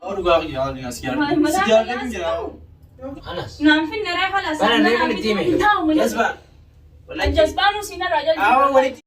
Dhugaa kiyya waan as jaalladhu. Si jaalladhu jira. Anas. Naan finna ree halas. Bara ree kan itti hime. Jasbaan. Jasbaan usinarraa jalqabaa.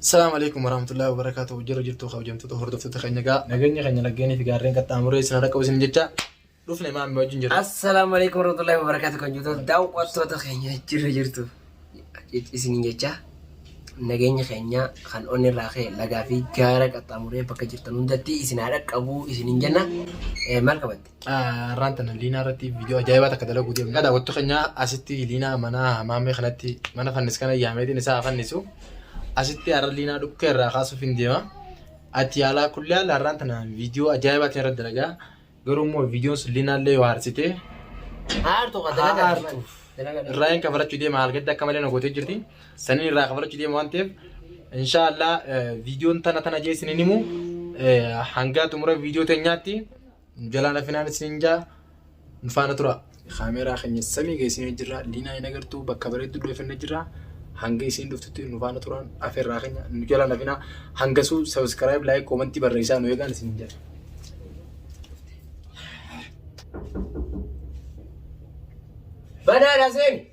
Assalamu alaikum warahmatullahi wabarakatuh. Jirra jirtu kabajamtoota hordoftoota keenya gaa nageenya keenya laggeenii fi gaarreen qaxxaamuree isin har'a qabu isin jecha dhufne maammi wajjin jirra. Assalaamu alaikum warahmatullahi wabarakatuh kan jirtu daawwattoota keenya jirra jirtu isiniin jecha nageenya keenya kan onni irraa ka'e lagaa fi gaara qaxxaamuree bakka jirtan hundatti isin haa dhaqqabu isiniin jenna Eh, maal qabatte? Har'aan tana liinaa irratti viidiyoo ajaa'ibaa takka dalaguu deemna. Dhadhaa wattu keenya asitti liinaa mana maamee kanatti mana fannis kana yaameetiin isaa haa fannisu. Asitti har'a liinaa dhukkee irraa kaasuuf hin deema. Ati yaalaa kullee haala har'aan tana viidiyoo ajaa'ibaatiin irratti dalagaa. Garuu immoo viidiyoon sun linaallee yoo aarsite Aartu kan haa dalagaa aartuuf. dalagaa Irraa hin kafarachuu deema haalgadda akka malee na gootee jirti. Saniin irraa kafarachuu deema waan ta'eef inshaallah viidiyoon tana tana jee isiniin himu eh, hanga xumura viidiyoo teenyaatti jalaan afinaan isiniin jaa nu faana tura. Kaameeraa keenya samii geessinee jirra. Liinaa hin agartuu bakka bareedduu dhoofannee jirra. Hanga isiin dhuftutti nu faana turaan afeerraa keenya nu jala nafinaa. Hangasuu sabiskiraayib laayik koomantii barreessaa nu eegaan isin jedha. Banaadha seeni.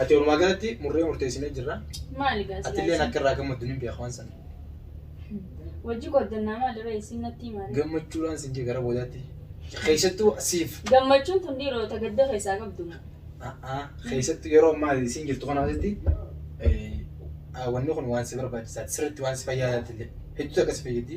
Ati walumaa galatti murree murteessinee jirra. Maali gaazexaa? Ati illee akka irraa gammaddu ni beeku waan sana. Wajji qoddannaa maalirra isin natti himaale. Gammachuudhaan sin jee gara boodaatti. Keessattuu siif. Gammachuun tun dhiirota gadda keessaa qabdu. Keessattuu yeroo ammaa isin jirtu kana asitti wanni kun waan si barbaachisaati. Sirriitti waan si fayyaadaatti illee. Hedduu akka si fayyaddi.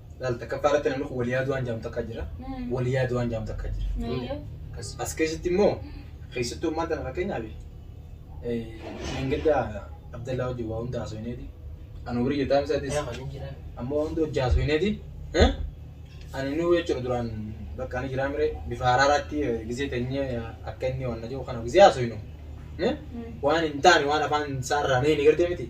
Laal takkaffaa irratti namni kun waliyaa du'aan jaamu takka jira. Waliyaa du'aan jaamu takka jira. As keessatti immoo keessattuu ammaan tana fakkeenyaaf Meengaddaa Abdallaa wajjin waa hunda haasofneeti. Ani horii jetaan isaatis amma waa hunda hojii haasofneeti. Ani inni jechuudha duraan bakka ani jiraa mire bifa haraaraatti gizee teenyee akka inni waan na jiru kana gizee haasofnu. Waan hin taane waan afaan isaa irraa ni gartee miti.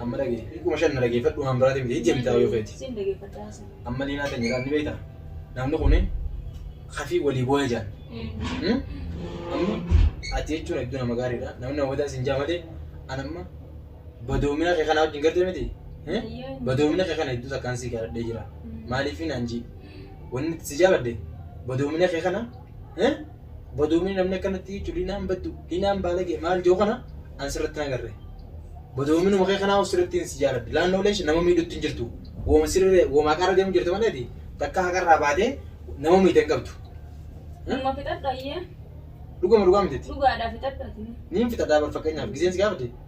Amma dhagee. Kuma shan na dhageeffadhu waan biraati miti ijji mitaa yoo feeti. Sin dhageeffadha haasa. Amma liinaa tan jedhaan ni beektaa? Namni kun kafii walii booya jaan. Amma ati jechuun hedduu nama gaariidha. Namni nama badaa sin jaa malee an amma badoomina kee kana wajjin garte miti. Badoomina kee kana hedduu takkaan sii kadhadhee jira. Maaliif naan jii? Wanni si jaabadde badoomina kee kana bodoomni namni akkanatti jechuun diinaan baddu diinaan baalagee maal jiru kana an sirratti hin agarre. Bodoomni makee kanaa of sirratti hin si jaaladhe. Laannoo leesh nama miidhutti hin jirtu. Wooma sirree wooma haqarra deemu jirtu maleeti takka haqarraa baatee nama miidhe hin qabdu. Dhuma fixadhu ayyee. Dhuguma dhugaa miti. Dhugaadhaa fixadhu ati. Niin fixadhaa bar fakkeenyaaf giseen si gaafate.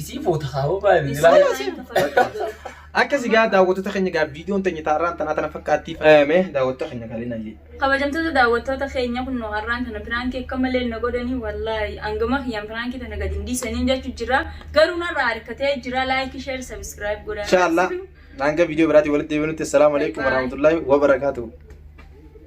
Isii foota hawa baay'ee Isii ilaalaa. isii foota. Akka sigaa daawwattoota keenya egaa viidiyoon teenya taarraan tanaa tana fakkaatti faayame daawwattoota keenya galiin ayyee. Kabajamtoota daawwattoota keenya kun nu har'aan tana piraankii akka malee na godhanii wallaahi hangama kiyyaan piraankii tana gadi hin dhiisaniin jechuu jira. Garuu narraa harkatee jira laayikii sheer sabiskiraayib godhaa. Inshallah hanga viidiyoo biraatiin walitti deebinutti assalaamu alaikum warahmatullahi wabarakaatuhu.